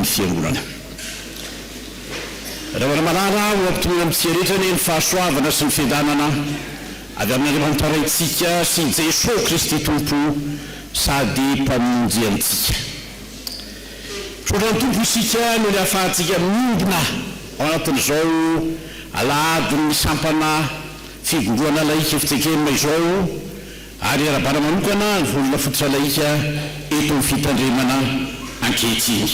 ny Fiangonana. Ravalomanana, ho ampitoviana amin'ny fihariatra anie ny fahasoavana sy ny fiadanana avy amin'Andriamanitra Raintsika sy i Jesoa Kristy Tompo sady Mpamonjy antsika. Tsodrano Tompo isika noho ny ahafahantsika miombona ao anatin'izao Alahadin'ny Sampana Fivombonana Laika Fitsekemma izao, Ary iarahabana manokana ny volana fototr'alahika eto amin'ny fitandremana ankehitriny.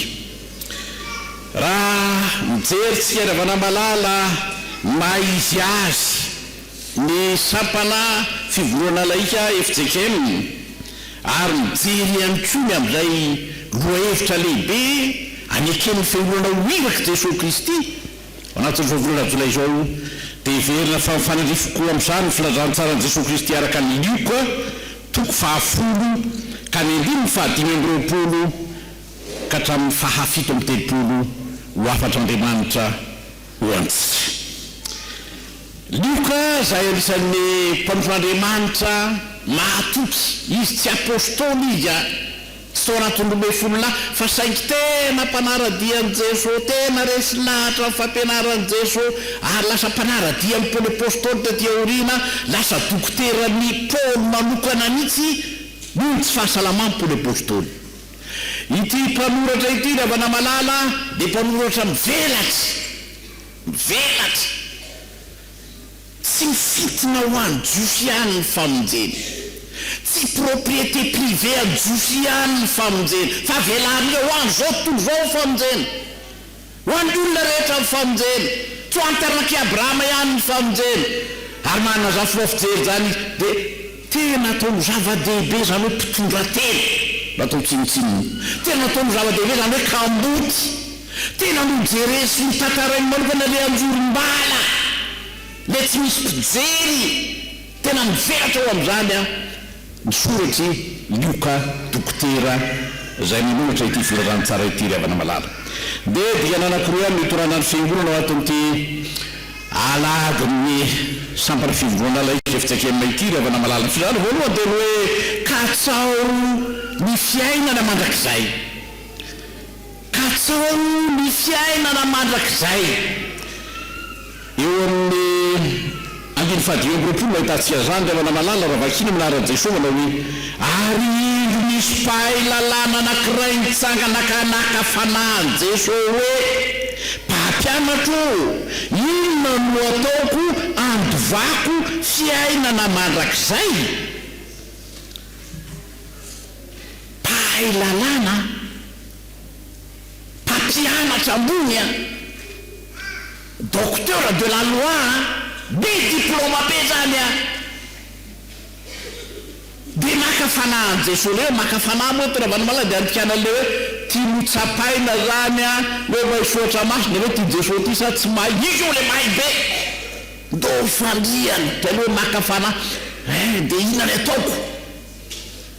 Raha mijery tsika ry havana malala ny maha izy azy ny sampana fivondronana alahika fjkm ary mijery ihany koa ny amin'ilay lohahevitra lehibe aneken'ny fiangonana ho irak'i Jesoa Kristy, Anatin'izao volana jolay izao dia heverina fa mifanandrify koa amin'izany ny filazantsaran'i Jesoa Kristy araka an'i Lioka toko fahafolo ka ny andininy fahadimy amby roapolo ka hatramin'ny fahafito amby telopolo ho hafatr'Andriamanitra ho antsika. Lioka izay anisan'ny mpanompon'Andriamanitra mahatoky, izy tsy apostoly izy a! Soratondrobe folo lahy fa saingy tena mpanara-dia an'i Jeso, tena resy lahatra ny fampianaran'i Jeso ary lasa mpanara-dia an'i Paoly Apostoly taty aoriana, lasa dokoteran'i Paoly manokana mihitsy noho ny tsy fahasalaman'i Paoly Apostoly. Ity mpanoratra ity ry havana malala dia mpanoratra mivelatra, mivelatra. Tsy mifintina ho an'i Jiosy ihany ny famonjena. Tsy propriété privée an'i Jiosy ihany ny famonjena, fa velarin'ireo ho avy izao tontolo izao ny famonjena. Ho an'ny olona rehetra ny famonjena. Tsy ho an'ny taranak'i Abrahama ihany ny famonjena. Ary manazafy leo fijery izany izy, dia. Tena ataony zava-dehibe izany hoe mpitondra tena mba atao tsinontsinona. Tena ataony zava-dehibe izany hoe kamboty. Tena nojereny sy notantarainy manokana ilay anjorom-bala, ilay tsy misy mpijery. Tena mivelatra ao amin'izany an, ny soratr'i Lioka Dokotera izay nanoratra ity Filazantsara ity ry havana malala. Dia dingana anankiroa ihany no itorana ny Fiangonana ao anatin'ity. Alahadin'ny sampana fivondroana laika efa tsy akenina ity ry havana malala ny fizarana voalohany dia ny hoe Katsaho ny fiainana mandrakizay Katsaho ny fiainana mandrakizay Eo amin'ny andininy fahadimy amby roapolo no ahitantsika izany ry havana malala raha vakina amin'ny laharan'i Jesosy manao hoe Ary indro nisy mpahay lalàna anankiray nitsangana ka naka fanahy an'i Jesosy hoe Mpampianatro ô! Inona no ataoko handovako fiainana mandrakizay? Mpahay lalàna aho, mpampianatra ambony aho, docteur de la loi aho, be diplaoma be izany aho. Dia maka fanahy any Jesoa le hoe maka fanahy moa eto Ravalomanana dia andikana le hoe ty notsapaina zany an hoe maisoatra maso dia hoe ty Jesoa ty sa tsy may izy io le may be do fandriana dia le hoe maka fanahy eh dia inona le ataoko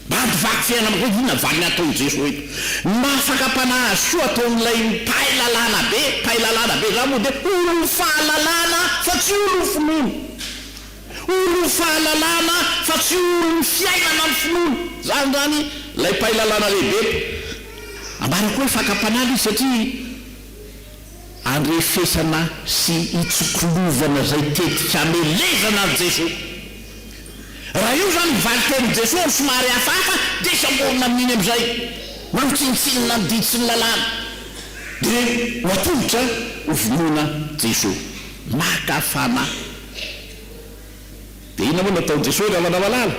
mba hampivaky fiainana hoe inona valiny ataony Jesoa eto ny maha fakam-panahy azy koa ataon'ilay mpahay lalàna be mpahay lalàna be zany moa dia olom-fahalalana fa tsy olom-finoana. Olon'ny fahalalana fa tsy olon'ny fiainana ny finoana. Izany izany ilay mpahay lalàna lehibe. Ambara koa hoe fakam-panala izy satria andrefesana sy itsoklovana izay tetika hamelezana an'i Jesoa. Raha io izany ny valin-tenin'i Jesoa amin'ny somary hafahafa dia samborina amin'iny amin'izay. Manao tsinontsinona ny didy sy ny lalàna dia ho atolotra ho vonoina Jesoa. Maka fanahy. Dia inona moa no ataon'i Jesoa rehefa manao halala?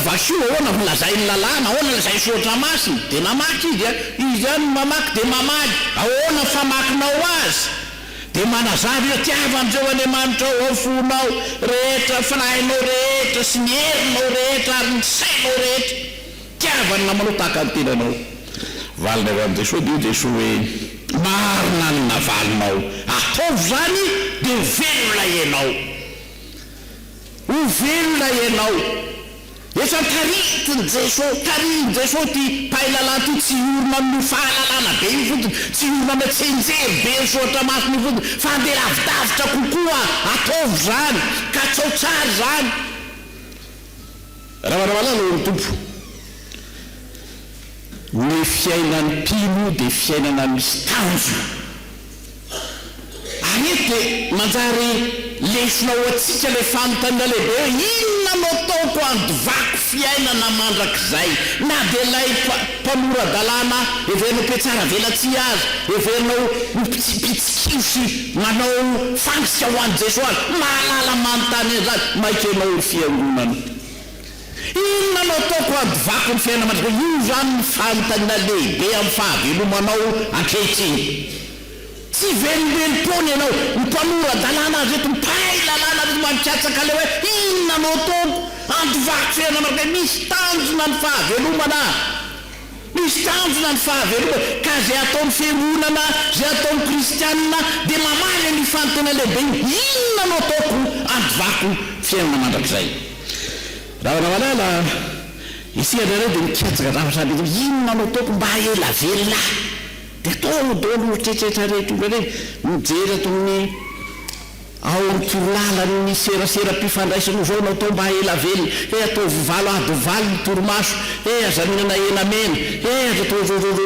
Vaky io, ahoana no lazain'ny lalàna? Ahoana no lazain'ny soratra masina? Dia namaky izy dia, izy ihany no mamaky dia mamaly, ahoana ny famakinao azy? Dia manazava io, tiavo an'Jehovah Andriamanitrao ao fonao rehetra, fanahinao rehetra sy ny herinao rehetra ary ny sainao rehetra. Tiava ny namanao tahaka ny tenanao. Valiny avy amin'i Jesoa dia hoy Jesoa hoe, Marina ny navalinao, ataovy izany dia ho velona ianao. Ho velona ianao. Efa tarihiko ny Jesoa, tarihin'i Jesoa ity mpahay lalàna ity, tsy hiorina amin'io fahalalana be io fotsiny, tsy hiorina amin'ilay tsenjery be nisoratra masina io fotsiny, fa handeha lavidavitra kokoa, ataovy izany, katsao tsara izany. Ravaramalala ô ry Tompo, ny fiainan'ny mpino dia fiainana misy tanjona, ary eto dia manjary lesona ho antsika ilay fanontaniana lehibe hoe inona no ataoko handovako fiainana mandrakizay? Na dia ilay mpanora-dalàna heverina ho mpihatsaravelatsihy aza, heverina ho mpitsikilo sy Manao fasika ho an'i Jesoa aza. Mahalala manontany an'izany. Maika ianao ry Fiangonana. Inona no ataoko handovako ny fiainana mandrakizay? Io izany no fanontaniana lehibe amin'ny fahavelomanao ankehitriny. Tsy velombelom-poana ianao. Ny mpanora-dalàna azy reto, mpahay lalàna reto mampiatsaka ilay hoe, Inona no ataoko handovako fiainana mandrakizay? Misy tanjona ny fahavelomana. Misy tanjona ny fahavelomany, ka izay ataon'ny fiangonana, izay ataon'ny kristiana, dia mamaly an'io fanontaniana lehibe io, Inona no ataoko handovako fiainana mandrakizay? Ravana malala, Isika indraindray dia mikatsaka zavatra any an-doha, Inona no ataoko mba hahela velona ahy? Dia ataonao daholo io eritreritreritranay io indraindray, mijery ato amin'ny. Ao amin'ny torolalan'ny seraseram-pifandraisana ovao no atao mba ela velona. He ataovy valo ady valo ny torimaso, he aza mihinana hena mena, he aza ataovy voninkazo.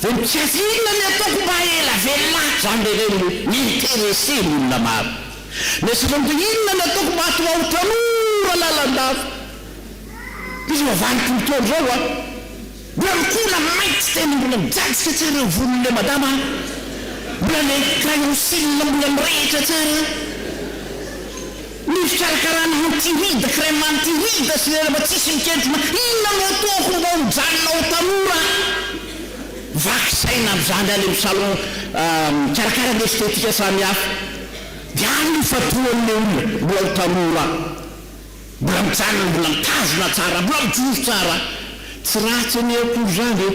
Inona ny ataoko mba ela velona ahy? Izany ve ireny no mi-interesser ny olona maro? Ny antsika koa dia inona ny ataoko mba hahatonga ahy ho tanora lalandava? Misy vavan'ny tontolo izao an! Dia mikola maitso teny mbola mijajika tsara ny volon'ilay madama an! Mbola ilay crayon cils mbola mirehitra tsara an! Ny fikarakarana anti rides, crème anti rides sy lela mba tsisy miketrona, inona no ataoko mba ho mijanona ho tanora? Vaky saina amin'izany any amin'ny salon mikarakara ny estetika samihafa. Dia any io fa tohan'ilay olona mbola ho tanora an! Mbola mijanona mbola mitazona tsara mbola mijoro tsara tsy ratsy anie akory zany e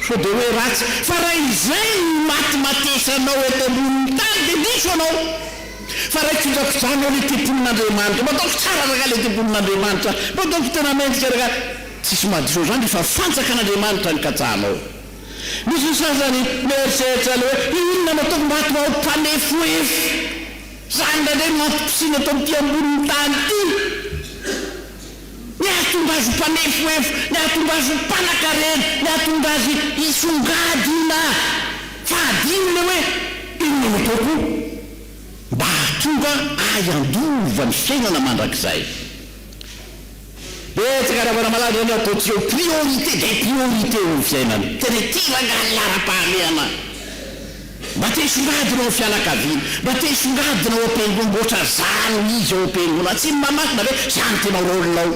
sao de hoe ratsy fa raha izay no imatimatesanao eto ambonin'ny tany de diso anao fa raha ikojakojanao le tempolin'Andriamanitra mba ataoko tsara ragah le tempolin'Andriamanitra mba ataoko tena mendrika ragah tsisy madio zany ry fa fanjakan'Andriamanitra ny katsahanao misy ny sasany mieritreritra le hoe inona no ataoko mba hahatonga ahy ho mpanefoefo Izany indray no antom-pisiana eto amin'ity ambonin'ny tany ity ny hahatonga azy ho mpanefohefo, ny hahatonga azy ho mpanankarena, ny hahatonga azy hisongadina. Fa hadino ilay hoe, Inona no ataoko mba hahatonga ahy handova ny fiainana mandrakizay? Betsaka raha manamalaza ny ataon'i Tsiô priorité des priorités eo amin'ny fiainany. Tena ity rangahy laharam-pahamehana mba te hisongadina ao amin'ny fianakaviana, mba te hisongadina ao am-piangonana, ohatra zany izy ao am-piangonana. Tsy ny mamaky na hoe zany no tena rôle ao.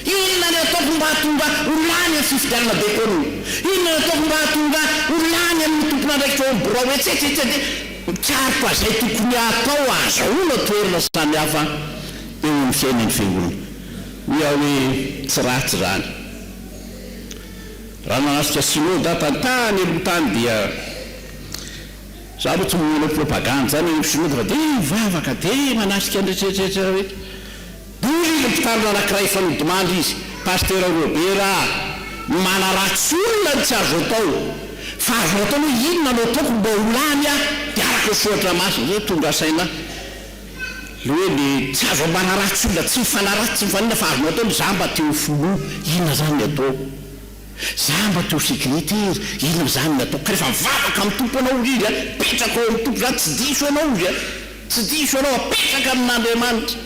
Inona ny ataoko mba hahatonga ho lany ny fifidianana dekôna? Inona ny ataoko mba hahatonga ho lany amin'ny tompon'andraikitra ao amin'ny birao etsetra etsetra. Mikaroka izay tokony hatao ahazahoana toerana samihafa. eo amin'ny fiainan'ny Fiangonana. Hoy aho hoe tsy ratsy izany. Raha nahazotra Synoda tantà any aloha tany dia, izaho aloha tsy manao propagande izany any amin'ny Synoda fa dia mivavaka, dia manasika ny rehetrarehetra hoe, Hoy ny mpitandrina anankiray efa nodimandry izy, Pasitera Robert a, ny manaratsy olona no tsy azo atao, fa azonao atao aloha inona no ataoko mba ho lany aho dia araka ny Soratra Masina izay tonga saina ahy. Hoe le tsy azo ampanaratsy olona tsy mifanaratsy tsy mifanina fa azonao atao le za mba te ho filoha inona zany ny ataoko? Za mba te ho secretaire inona zany ny ataoko? Ka refa mivavaka amin'ny Tompo anao hozy izy a, apetrako ao amin'ny Tompo zany tsy diso anao hozy a, tsy diso anao apetraka amin'Andriamanitra.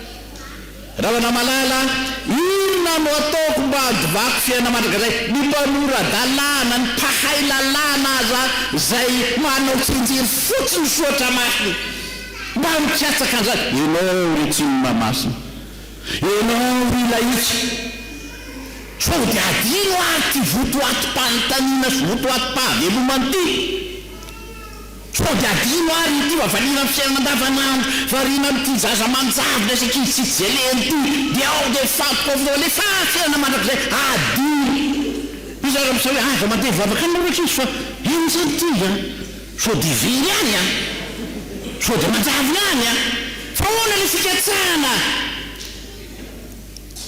Rahona malala a! Inona no ataoko mba handivako fiainana mandrakizay? Ny mpanora-dalàna, ny mpahay lalàna aza izay manao tsinjiro fotsiny misoatra masony mba mikatsaka an'izany. Ianao ry tsinona masina, ianao ry lahitsy, sao dia adino ary ity votoatim-panontaniana sy votoatim-pahavelomana ity? Sao dia adino ary ity mba valiana amin'ny fiainana andavanandro, variana amin'ity zaza manjavona sy ankizy tsy veleny ity, dia ao dia mifantoka ao foana hoe fa fiainana mandrakizay, adino! Iza ary amin'izao hoe aza mandeha mivavaka any nareo ankizy fa inona izany ity an! Sao dia very ihany an! Sao dia manjavona ihany an! Fa ahoana ilay fikatsahana?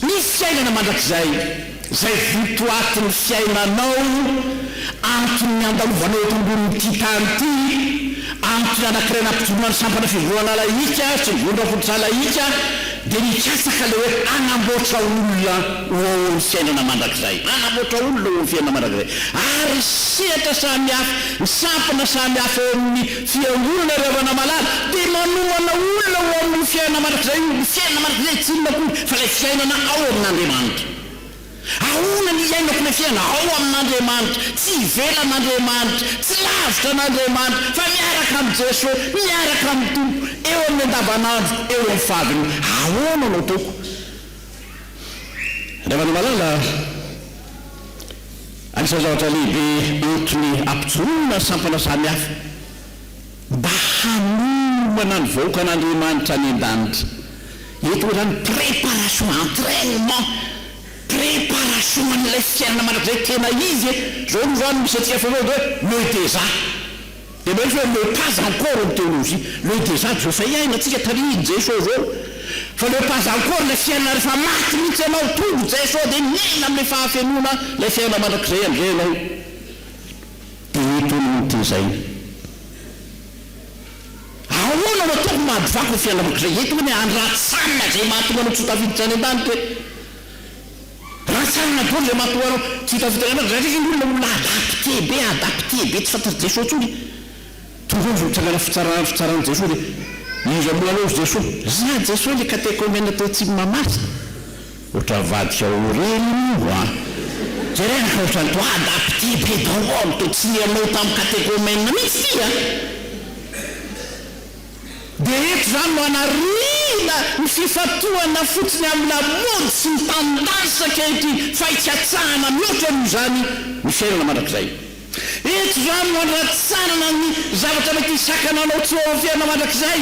Ny fiainana mandrakizay, izay votoatin'ny fiainanao, antony niandalovanao eto ambonin'ity tany ity, antony anankiray nampijoroana ny sampana fivoahana lahika sy ny vondram-pototra lahika, dia nikatsaka ilay hoe hanamboatra olona ho ao amin'ny fiainana mandrakizay, hanamboatra olona ho ao amin'ny fiainana mandrakizay, ary sehatra samihafa, ny sampana samihafa ao amin'ny. Fiangonana ry havana malala dia manomana olona ho amin'ny fiainana mandrakizay io, ny fiainana mandrakizay tsy inona akory fa ilay fiainana ao amin'Andriamanitra. Ahoana ny hiainako ilay fiainana? Ao amin'Andriamanitra, tsy ivelan'Andriamanitra, tsy lavitra an'Andriamanitra fa miaraka amin'i Jeso, miaraka amin'ny Tompo, eo amin'ny andavanandro, eo amin'ny fadiny. Ahoana no ataoko ry havana malala? Anisan'ny zavatra lehibe entiny hampijoroana sampana samihafa mba hanorana ny vahoakan'Andriamanitra any an-danitra eto izany préparation, entrainement, préparation an'ilay fiainana mandrakizay tena izy e! Izao aloha izany misy antsika foana hoe me déjà. Dia mba efa hoe le pas encore ny théologie, le déjà dia efa iaina tsika tarihin Jeso zao, fa le pas encore ilay fiainana rehefa maty mihitsy ianao tonga Jeso dia miaina amle fahafenoana ilay fiainana mandrakizay amzay ianao dia eto no notezaina. Ahoana no ataoko mba handovako ny fiainana mandrakizay eto hono e, any raha tsy sanina izay mahatonga anao tsy ho tafiditra any an-danitra e. Raha tsy hanana vola izay mahatonga anao tsy hita fotona anao, raha indray ny olona olona adapte be, adapte be, tsy fantatry Jesoa intsony, toy izao misy mitsangana fitsarana, fitsaran'i Jesoa dia iza moa anao ry Jesoa? Izaho Jesoa ilay katekomena teo Tsimimahamasina. Ohatran'ny vadiko ao Oren iny ho'a. Jerena fa ohatran'ny toa adapte be daholo, toa tsy niha-nao tamin'ny katekomena mihitsy ity a! dia eto izany no anarihina ny fifantohana fotsiny amin'ny lamaody sy ny tanindrazitra ankehitriny fa hikatsahana mihoatra noho izany ny fiainana mandrakizay. Eto izany no andratsanana ny zavatra mety hisakana anao tsy ho ao amin'ny fiainana mandrakizay.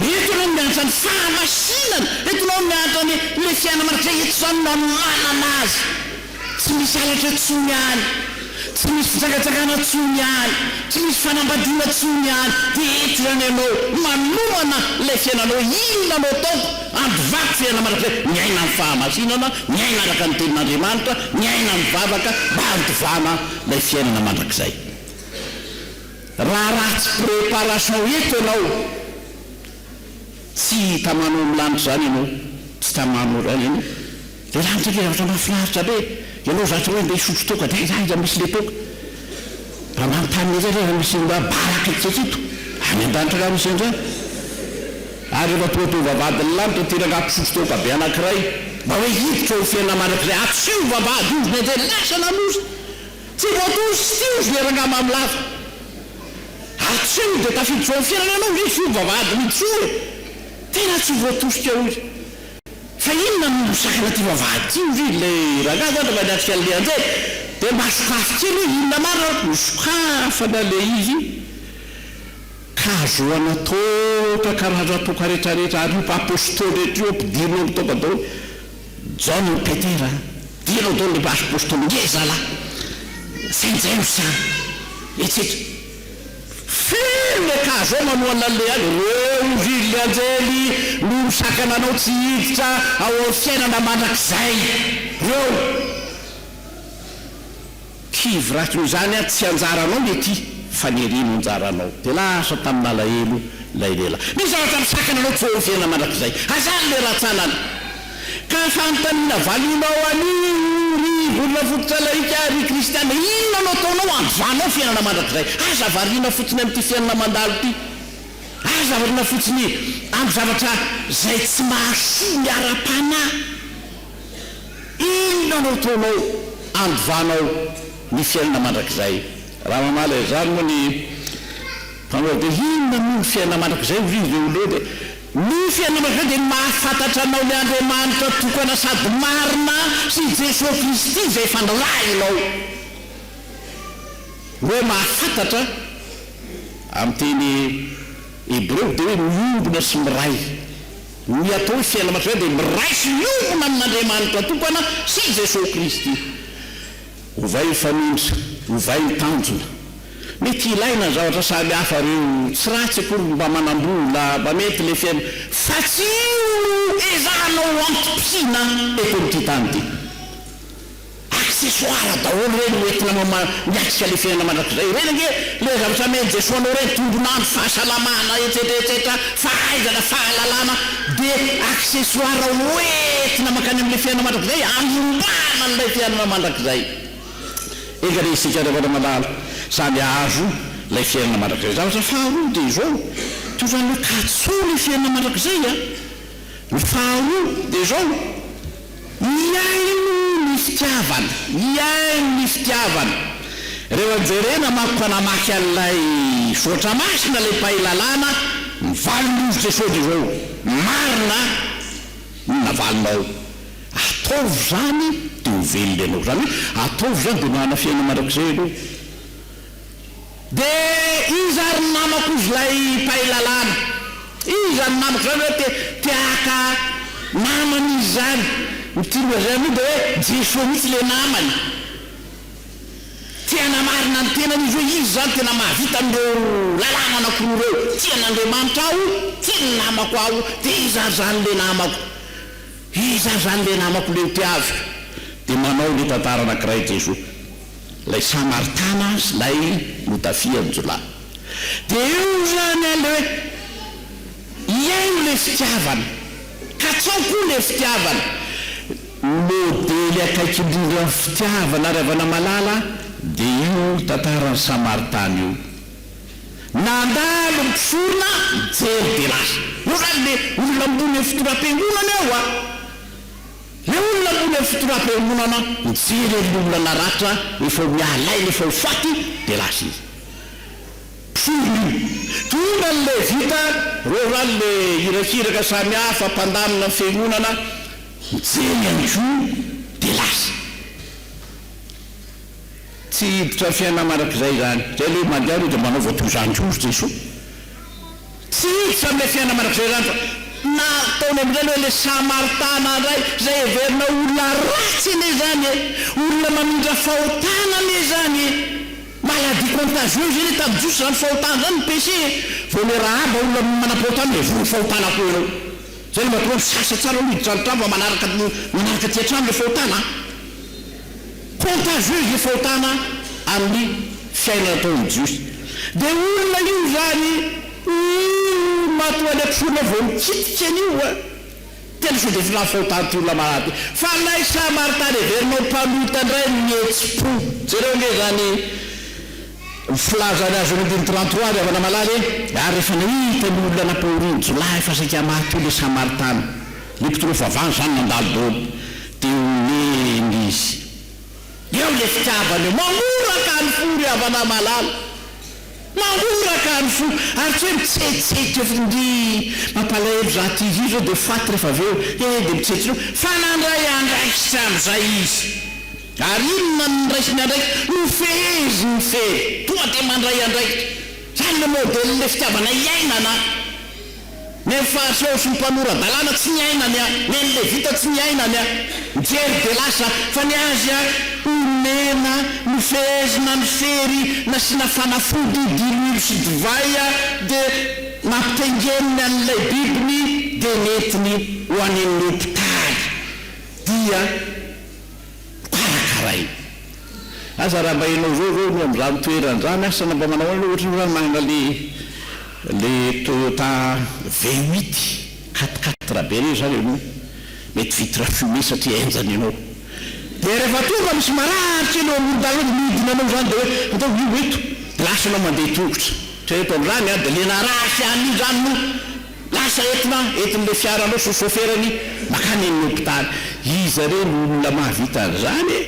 Eto ianao miantra ny fahamasinana, eto ianao miantra ny ilay fiainana marina, eto izao no nananana azy, tsy misy halatra intsony any, tsy misy fijangajangana intsony any, tsy misy fanambadiana intsony any, dia eto ihany ianao no manomana ilay fiainanao, inona no ataoko, andovako fiainana marina indray, miaina amin'ny fahamasinana, miaina araka ny tenin'Andriamanitra, miaina mivavaka mba handovana ilay fiainana mandrakizay. Raha ratsy préparation eto ianao tsy tamano am lanitra zany ianao tsy tamano zany ianao le lanitra le zavatra mafinaritra be ianao zatra hoe ndeha hisotro toaka de aiza aiza misy le toaka ambany tany aiza aiza misy ny raha baraka etsy sy eto any andanitra nga misy anzany ary refa tonga tonga vavahady ny lanitra ty rangah mpisotro toaka be anakiray mba hoe hiditra eo am fiainana mandrakiray atsy io vavahady io ozy ny anjely lasa namozy Tsy voatory sy tsinjo ilay rangahy mamy lava. Hatreto dia tafiditra eo amin'ny fiainana ianao ve tsy omby vavahady mijoro e? Tena tsy voatosika hoy. Fa inona no sakana ity vavahady ity hoy ilay rangahy zany rehefa niatrika an'ilay anjely. Dia mba sokafy kely hoe inona marina ary. Nosokafana ilay izy ka hahazoana toaka ka raha-draha toaka rehetra rehetra ary io mpaha-apostoly rehetra io ampidirina ao amin'ny toaka daholo. Jaona an'i Petera, Ireo dolo lehibe apostoly ngeza lahy sy an'i Jamsa etsika. Feno le cas zao manohana anle any reo vily anjely no misakana anao tsy hiditra ao am fiainana mandrakizay reo. Kivraky noho izany aho tsy anjaranao ny aty fa ny ery no anjaranao. Dia lasa tamin' alahelo ilay lehilahy. Misy zavatra misakana anao tsy eo amin'ny fiainana mandrakizay. Hazary ilay rantsanana. Ka fanontaniana valinao an' i ry volona fototra lahika ry kristiana, inona no ataonao hanovanao fiainana mandrakizay? Aza variana fotsiny amin'ity fiainana mandalo ity. Aza variana fotsiny amin'ny zavatra izay tsy mahasoa ny ara-panahy. Inona no ataonao andovanao ny fiainana mandrakizay? Raha mamaly izany moa ny mpanao dia inona moa ny fiainana mandrakizay? Hoy izy dia hoy Leo dia ny fiainana mandrakizay dia ny mahafantatra anao ny Andriamanitra tokana sady marina sy i Jesoa Kristy izay efa nirahinao. Ny hoe mahafantatra amin'ny teny hebreo dia hoe miombona sy miray. Ny atao hoe fiainana mandrakizay dia miraiso hiombona amin'Andriamanitra tokana sy i Jesoa Kristy. Ovay ny fanindry, ovay ny tanjona. Mety hilaina ny zavatra samy hafa ireo, tsy ratsy akory ny mba manam-bola, mba mety ilay fiainana, fa tsy io no ezahanao ho antom-pisiana eto amin'ity tany ity. Accessoire daholo ireny ho entina mama miatrika le fiainana mandrakizay ireny ange le zavatra amen'i Jesoa anao ireny, tombon'andro, fahasalamana, etsetra etsetra, fahaizana, fahalalana, de accessoire ho entina mankany amle fiainana mandrakizay hanombana an'ilay fiainana mandrakizay. Enga anie isika ry havana malala samy hahazo ilay fiainana mandrakizay. Zavatra faharoa de izao, tokony haka tsony fiainana mandrakizay a! Ny faharoa dia izao, mihaino ny fitiavana, mihaino ny fitiavana. Rehefa jerena manko ka namaky an'ilay soratra masina ilay mpahay lalàna, ny valin'Izy Jesoa dia izao, Marina ny navalinao, ataovy izany dia ho velona ianao. Izany hoe ataovy izany dia manana fiainana mandrakizay ianao. Dia iza ary ny namako hozy ilay mpahay lalàna? Iza ny namako izany hoe te haka namana izy izany? Ny tiany lazaina moa dia hoe Jesoa mihitsy ilay namany. Te hanamarina ny tenany izy hoe izy izany tena mahavita an'ireo lalàna anankiroa ireo, tian'Andriamanitra aho, tiany ny namako aho. Dia iza ary izany ilay namako? Iza ary izany ilay namako ilay hotiaviko? Dia manao ilay tantara anankiray Jesoa. Ilay Samaritana sy ilay notafian-jiolahy. Dia eo izany ilay hoe, Iaino ilay fitiavana, katsao koa ilay fitiavana. Ny modely akaiky indrindra amin'ny fitiavana ry havana malala dia io tantaran'ny Samaritana io. Nandalo ny mpisorona mijery dia lasa. Eo izany ilay olona ambony eo fitondrampiangonana eo a! Le olona ambony amin'ny fitonam-piangonana mijery an'le olona naratra efa ho miahalahelo efa ho faty de lasa izy mpisorona io tonga ny levita reo rano le irakiraka samy hafa mpandamina ny fiangonana mijery ihany ko de lasa tsy hiditra ny fiainana marak'izay izany zay le mandeha aloha de manaova toy izany ko ry Jesoa Tsy hiditra amin'ilay fiainana mandrakizay izany fa na ataony amin'izany hoe ilay Samaritana indray, izay heverina ho olona ratsy anie izany e! Olona mamindra fahotana anie izany e! Maladie contagieuse anie tamin'ny Jiosy izany fahotana izany ny péché e! Vao ilay Rahaba olona manam-pahotana dia voan'ny fahotana koa ianao. Izay no mahatonga misasa tsara aloha hiditra an-trano fa manaraka manaraka aty an-trano ilay fahotana an! Contre jus hifaotana amin'ny fiainana ataon'ny Jiosy. Dia olona io izany io matoa any an-tsorina vao mikitika an'io an! Tena sao dia tsy nahafaotan' ity olona marary ity. Fa ilay Samaritana heverinao mpanota indray no nihetsi-po. Jereo ange izany filaza ny azo an'Andininy trente trois avy havana malala e! Ary rehefa nahita ny olona nampahorin'ny jiolahy fa saika maty io ilay Samaritana, ilay mpitondra fahavalo izany nandalo daholo. Dia omena izy. Eo ilay fitiavana eo. Mangoraka ny fo ry havana malala. Mangoraka ny fo. Ary tsy hoe mitsetseka eo fotsiny. Ndry mampalahelo za ty izy io zao dia faty rehefa avy eo e. Dia mitsetseka eo. Fa nandray andraikitra amin'izay izy. Ary inona no niraisiny andraikitra? Nofeheziny fery. Tonga dia mandray andraikitra. Izany ilay modèle fitiavana iainana. Neny Fahaseho sy ny mpanora-dalàna tsy niaina ny ahy, neny Levita tsy niaina ny ahy. Mijery dia lasa, fa ny azy a, omena, nofehezina ny fery, nasiana fanafody, diloilo sy divay a, dia nampitaingeniny an'ilay bibiny, dia nentiny ho any amin'ny hopitaly. Dia. Karakaraina. Aza raha mba ianao zao zao no amin'izany toerana zany asa na mba manao ahoana ianao ohatranao zany manana le le Toyota V huit quatre quatre be reny zany ianao mety vitre fumée satria henjana ianao dia rehefa tonga misy marary kely eo amoron-dalana dia mihodina anao zany dia hoe ataovy io eto dia lasa ianao mandeha tongotra, ohatran'ny hoe ataon'izany an dia le narary sy an'io zany no Lasa entina entin'ilay fiara anao sy soferany makany amin'ny hopitaly. Iza re no olona mahavita an'izany e?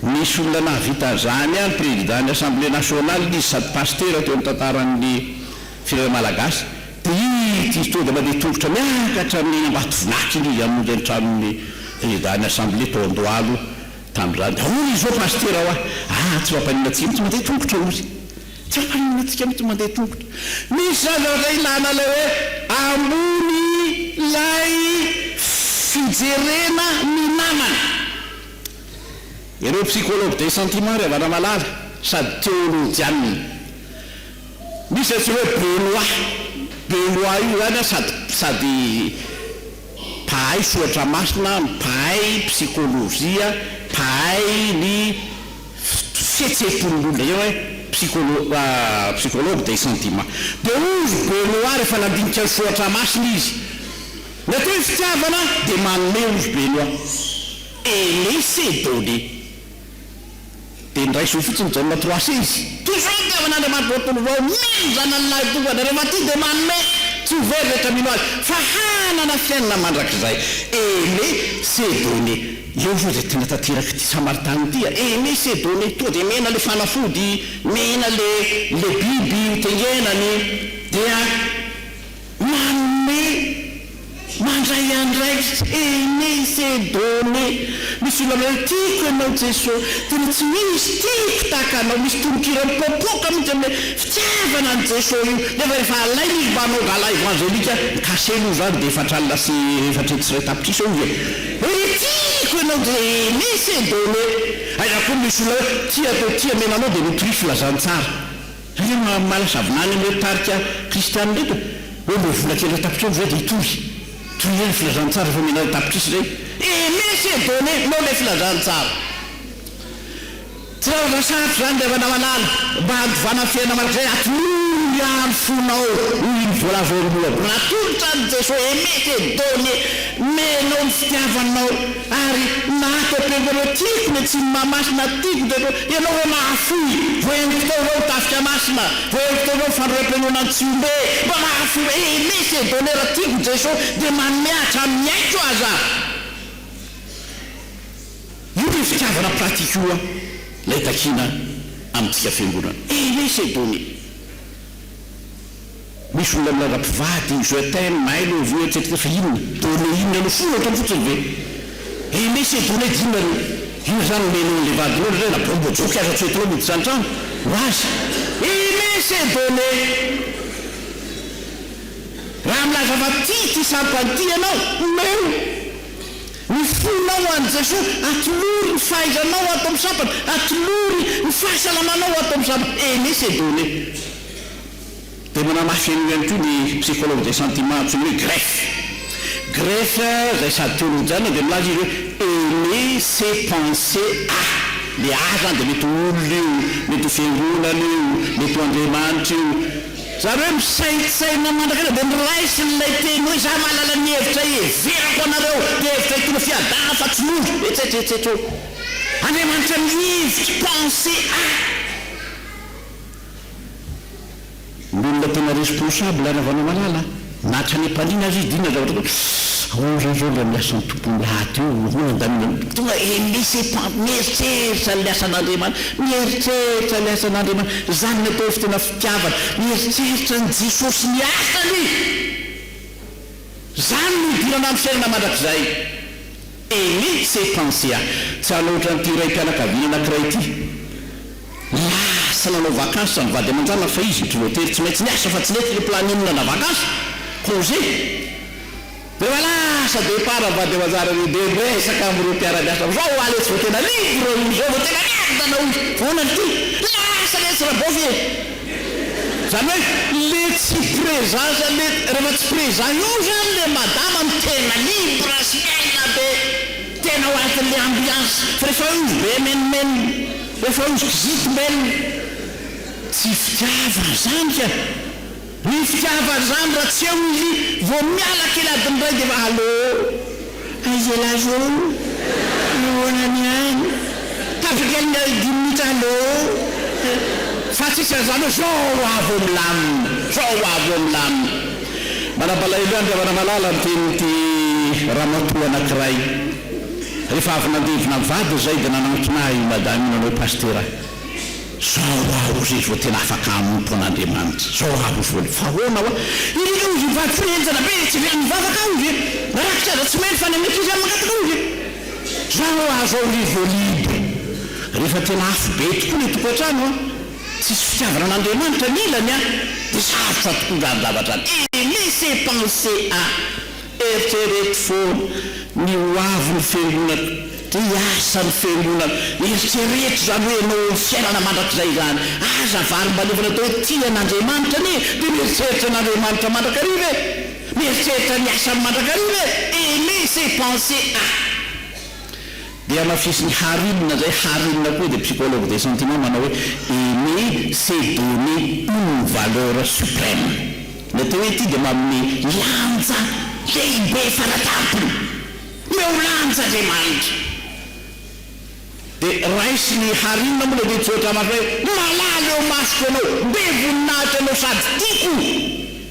Nisy olona nahavita an'izany ihany, Président-n'ny Assemblée Nationale izy sady Pasitera teo amin'ny tantaran'ny firenena Malagasy. Dia ity izy tonga dia mandeha tongotra miakatra ny Ambatovinaka iny izy hamonjy ny tranon'ny Président-n'ny Assemblée tao Andohalo tamin'izany. Dia hoy izy, Ô Pasitera hoa, atsy Mampaninona atsy mihitsy mandeha tongotra hoy. Tsy ampahenatsika mihitsy mandeha tongotra ny zaza zay ilana ilay hoe ambony ilay fijerena ny namana. Ireo psychologue des sentiments ry havana malala sady teolojianina. Misy izay antsoina hoe belois. Belois io zany an sady sady mpahay soratra masina, mpahay psychologie, mpahay ny. fihetsehampon'olona eo eh psycholo psychologue des sentiments dia hoy ry Benoît rehefa nandinika ny soratra masina izy ny atao hoe fitiavana dia manome hoy ry Benoît et laisser donner dia niraiso eo fotsiny Jaona trois c izy toy izao ny fitiavan'Andriamanitra manontolo vao mino ny zanany lahy tongany rehefa tia dia manome tsy ho very rehetra mino azy fa hanana fiainana mandrakizay et laisser donner Eo ve izay tiana tanteraka ity Samaritana ity a? Aimé s'est donné toa dia mena le fanafody, mena le le biby ho tengenany dia manome mandray andraikitra, Aimé s'est donné, misy olona manao hoe tiako ianao Jeso, tena tsy misy tiako tahaka anao, misy tononkira mipoapoaka mihitsy amin'ilay fitiavana an'i Jeso io, nefa rehefa alainy izy mba hanao gala evangelique mikasely io izany dia efatra alina sy efatra hetsy sy iray tapitrisa eo izy e! Ry tiako ianao dia Eunice e! Done! Aiza koa misy olona hoe tia atao tia mena anao dia mitory filazantsara. Ianao no mahamala savinany an'ireo tarika kristianina ireto e! Hoe mbola vola kely iray tapitrisa ve dia hitory? Tohizo ny filazantsara efa omenareo tapitrisa izay. Eunice e! Done! Nao ilay filazantsara. Tsy raha vao sarotra izany ry havana malala mba handovana ny fiainana mandrakizay, atolory ny andro fonao ho iny voalazonao, mba natolotra an'i Jeso aimé te donné, menao ny fitiavanao, ary na ato am-perinao hoe tiako ny Atsimo-mah masina, tiako ny teto, ianao hoe mahafoy, voaheloky tao izao ny tafika masina, voaheloky tao izao ny fandroram-pihainoana an'i Tsiombe, mba mahafoy, aimé se donné, raha tiako Jeso dia manome hatramin'ny aiko aza. Io le fitiavana pratique io an lay takiana amintsika fiangonana eh le c'est bon e! Misy olona milaza mpivady, je t'aime, I love you etc fa inona? Done inona aloha? Soratra fotsiny ve? Eh le c'est bon e! Dino nareo io zany nenao anle vadinao ndray zay na baomba joke aza tsy hoentinao miditra antrano ho azy eh le c'est bon e! Raha milaza fa tia ity sampany ity ianao omeo Ny fonao ho an'i Jesoa, atolory ny fahaizanao ato amin'ny sabana, atolory ny fahasalamanao ato amin'ny sabana, et ne se donner. Dia manamafy an'io ihany koa ny psychologue des sentiments antsoina hoe Greff. Greff izay sady teolojiana dia milaza izy hoe aimer c'est penser à. Ilay à izany dia mety ho olona io, mety ho fiangonana io, mety ho Andriamanitra io, Zany hoe misaintsaina mandrakariva dia miraisina ilay teny hoe izaho mahalala ny hevitra hiheverako anareo, dia hevitra hitono fiadanana fa tsy nofo, etsetra etsetra oh. Andriamanitra mihevitra, penser à. Ny olona tena responsable ravana malala a. Na hatrany am-paniana aza izy dia inona ny zavatra ataoko? Sss! Hono re izao ilay miasa ny Tompon'ny lahatra io, hono andaniny hoe, tonga dia laissez pas, mieritreritra ilay asan'Andriamanitra, mieritreritra ilay asan'Andriamanitra, izany no atao hoe fotoana fitiavana, mieritreritra an'i Jesosy sy ny asany, izany no hidirana amin'ny fiainana mandrakizay. Aimé s'est pensé a! Tsy hanao ohatran'ity raim-pianakaviana anankiray ity lasa nanao vakansy samy vady aman-janaka fa izy ry Lotera tsy maintsy niasa fa tsy nety le planning nandà vakansy, congé. Rehefa lasa départ ny vady aman-janaka dia dia miresaka amin'ireo mpiara-miasa fa zao hoa letsy vao tena libre hoy, zao vao tena merdana hoy, fa ahoana no tia? Lasa letsy Rabaofy e! Zany hoe le tsy présent zany le refa tsy présent io zany le madama no tena libre sy miaina be tena ao anatin'le ambiance fa refa eo izy be menomenona refa eo izy kizito mbelona tsy fitiavana zany ka ny fitiavana zany ra tsy eo izy vo miala kely adiny ray defa allo. Aiza ialahy roo? Nahoana ny aina? Tapaka indray dimy minitra aloo. Fa tsy isan'ny izany hoe zao ho avy vao milamina, zao ho avy vao milamina. Manabalaelo an-dry Ravanamalala ny tenin'ity ramatoa anankiray. Rehefa avy nandevina ny vadiny izay dia nanantona ahy i Madame io nanao hoe Pasitera. Zao hoa ory vao tena afaka hanompo an'Andriamanitra, zao hoa ory vao le. Fa ahoana hoa? Ireo ovy mivavaka hoe henjana be etsy ivelany mivavaka ao ve? Rakotra aza tsy mely fa ny an'ankizy ihany mangataka ao ve? Zao hoa zao ory vao libre. Rehefa tena afo be tokoa le tokantrano an, tsisy fitiavana an'Andriamanitra ny ilany an, de sarotra tokoa zany zavatra zany. Et laisser penser à. Eritrereto foana ny ho avin'ny Fiangonana, dia hiasa ny Fiangonana. Eritrereto izany hoe ianao eo amin'ny fiainana mandrakizay izany. Aza varimbaliovana atao hoe tia an'Andriamanitra anie, dia mieritreritra an'Andriamanitra mandrakariva e! Mieritreritra ny asany mandrakariva e! Aimer c'est penser à. Dia hamafisin'i Harinina izay, Harinina koa dia psychologue des sentiments manao hoe, Aimer c'est donner une valeur supreme. Ny atao hoe ity dia manome lanja lehibe fara-tampony eo lanja Andriamanitra. Dia raisin'i Harina moa ilay teny tsoatra masina hoe malala eo masoko ianao, be voninahitra ianao sady tiako.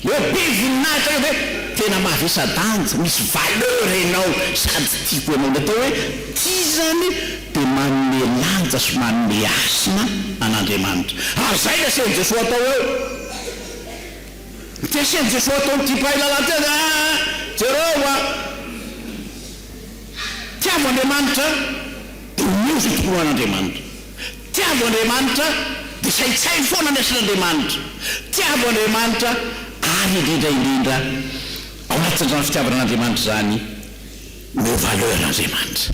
Ilay hoe be voninahitra io dia hoe tena mavesa-danja, misy valeur ianao sady tiako ianao. Ny atao hoe tia izany dia manome lanja sy manome hasina an'Andriamanitra. Ary izay no asehon'i Jesoa hatao eo. Tsy asian'i Jesoa atao amin'ity mpahay lalàna ity aza aa! Jereo a! Tiavo Andriamanitra dia omeo izay tokony ho an'Andriamanitra. Tiavo Andriamanitra dia saintsaino foana ny asan'Andriamanitra. Tiavo Andriamanitra ary indrindra indrindra ao anatin'izany fitiavana an'Andriamanitra izany, omeo valeur Andriamanitra.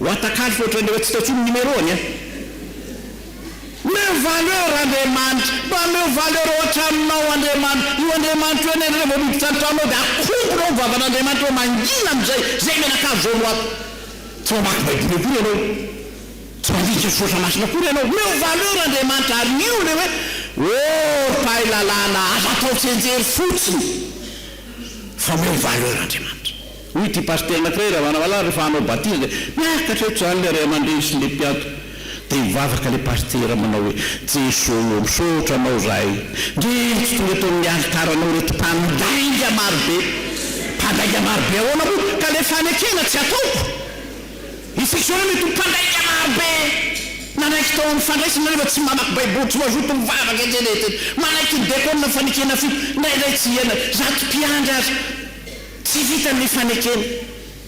Watakali fa ohatran'ny efa tsy tao intsony ny numéro any a! Meo valeur Andriamanitra, mba ameo valeur ao an-tranonao Andriamanitra, io Andriamanitra io anie rehefa miditra an-tranonao dia akombona ao ny vavan'Andriamanitra eo mangina amin'izay izay mianakavy izao no ato. Tsy mamaky baiboly akory ianao, tsy mandika soratra masina akory ianao, meo valeur Andriamanitra ary io ilay hoe oh ry mpahay lalàna aza atao tsenjery fotsiny fa meo valeur Andriamanitra. Hoy ity pasitera anankiray raha manao alarme rehefa hanao batiza dia miakatra eto izany ilay ray aman-dreny sy ilay mpianto. Dia mivavaka ilay pasitera manao hoe, Jeso ô, misaotra Anao izahay. Ndryy, tsy tonga eto amin'ny alitaranao ireto mpandainga marobe. Mpandainga marobe ahoana moa ka ilay fanekena tsy ataoko? Isika izao ve mety ho mpandainga marobe nanaiky tao amin'ny fandraisana nefa tsy mamaky Baiboly, tsy mazoto mivavaka etsy na eroa, manaiky ny diakona fanekena fito, indraindray tsy hiaina, zato mpiandry aza. Tsy vitan' ny fanekena.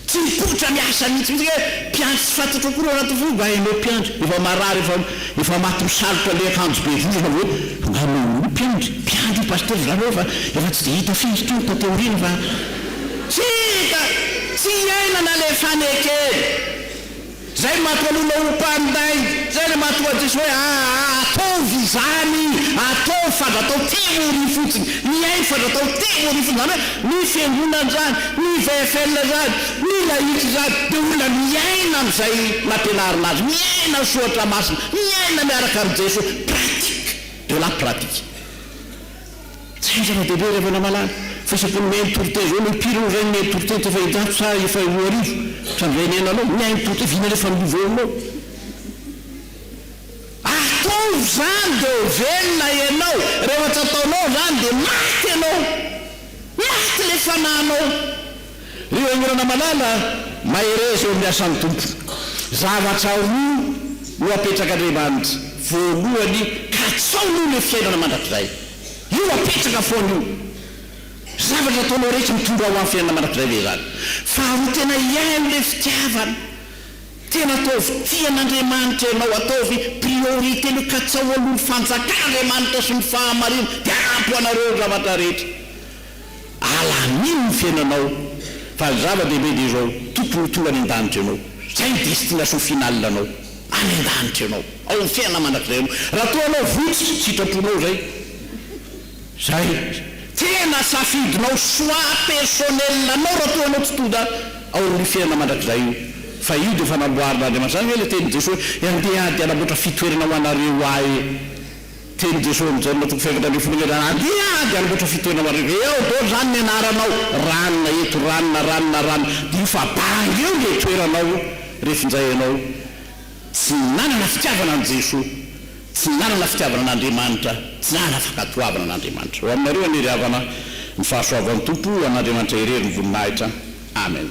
Tsy mipoitra ny asany mihitsy. Misy hoe mpiandry tsy fantatro akory ao anaty voa nga enao mpiandry. Efa marary efa efa maty misalotra le akanjo be vozona ve nga enao io mpiandry. Mpiandry io pasitera zany hoe efa efa tsy dia hita firy ity olona taty aoriana fa tsy hita. Tsy iainana le fanekena. Zay manko aloha no ho mpanday, zay le mahatonga an'i Jesoa hoe aa ataovy izany, ataovy fandratao théorie fotsiny, mihaino fandratao théorie fotsiny, zany hoe ny fiangonana zany, ny VFL zany, ny laïc zany de olona miaina an'izay nampianarina azy, miaina ny soratra masina, miaina miaraka amin'i Jesoa, pratique, de la pratique. Tsy zava-dehibe ilay manamala fisiam-pon'ny Maire Toriteny izao, ny pire ohatr'izay ny Maire Toriteny teo Fahitazo sa efa roa arivo hatramin'izay ny ainanao, ny ain'i Toriteny vina rehefa amin'ny volonao. Ataovy izany dia ho velona ianao, rehefa tsy ataonao izany dia maty ianao, maty ilay fanahinao. Ry olona malala, mahereza eo amin'ny asan'ny Tompo. Zavatra roa no apetrak'Andriamanitra, voalohany, katsao aloha ilay fiainana mandrakizay. Io apetraka foana io. Zavatra ataonao rehetra mitondra ho amin'ny fiainana mandrakizay ve izany? Faharoa, tena hiaino ilay fitiavana. Tena ataovy tian'Andriamanitra ianao, ataovy priorité aloha, katsao aloha ny fanjakan'Andriamanitra sy ny fahamarinany, dia ampy ho anareo ny zavatra rehetra. Allah hamino ny fiainanao fa ny zava dehibe dia izao tokony ho tonga any andanitra ianao izay ny destination finale anao any andanitra ianao ao amin'ny fiainana mandrakizay ianao raha toa anao votsy sitraponao izay izay tena safidinao choix personnel anao raha toa anao tsy tonga ao amin'io fiainana mandrakizay io fa io dia efa namboarin'Andriamanitra izany ve ilay tenin'i Jesoa hoe andeha ady hanamboatra fitoerana ho anareo ahy Teny Jesoa amin'i Jaona toko fahefatra ambin'ny folo ambin'ny enina, Andeha ary hanamboatra fitoerana ho anareo. Eo daholo izany ny anaranao, ranona eto, ranona, ranona, ranona. Diniho fa banga eo ilay toeranao io rehefa injay ianao tsy nanana fitiavana an'i Jesoa, tsy nanana fitiavana an'Andriamanitra, tsy nanana fankatoavana an'Andriamanitra. Ho aminareo anie ry havana ny fahasoavan'ny Tompo, ho an'Andriamanitra irery ny voninahitra. Amen.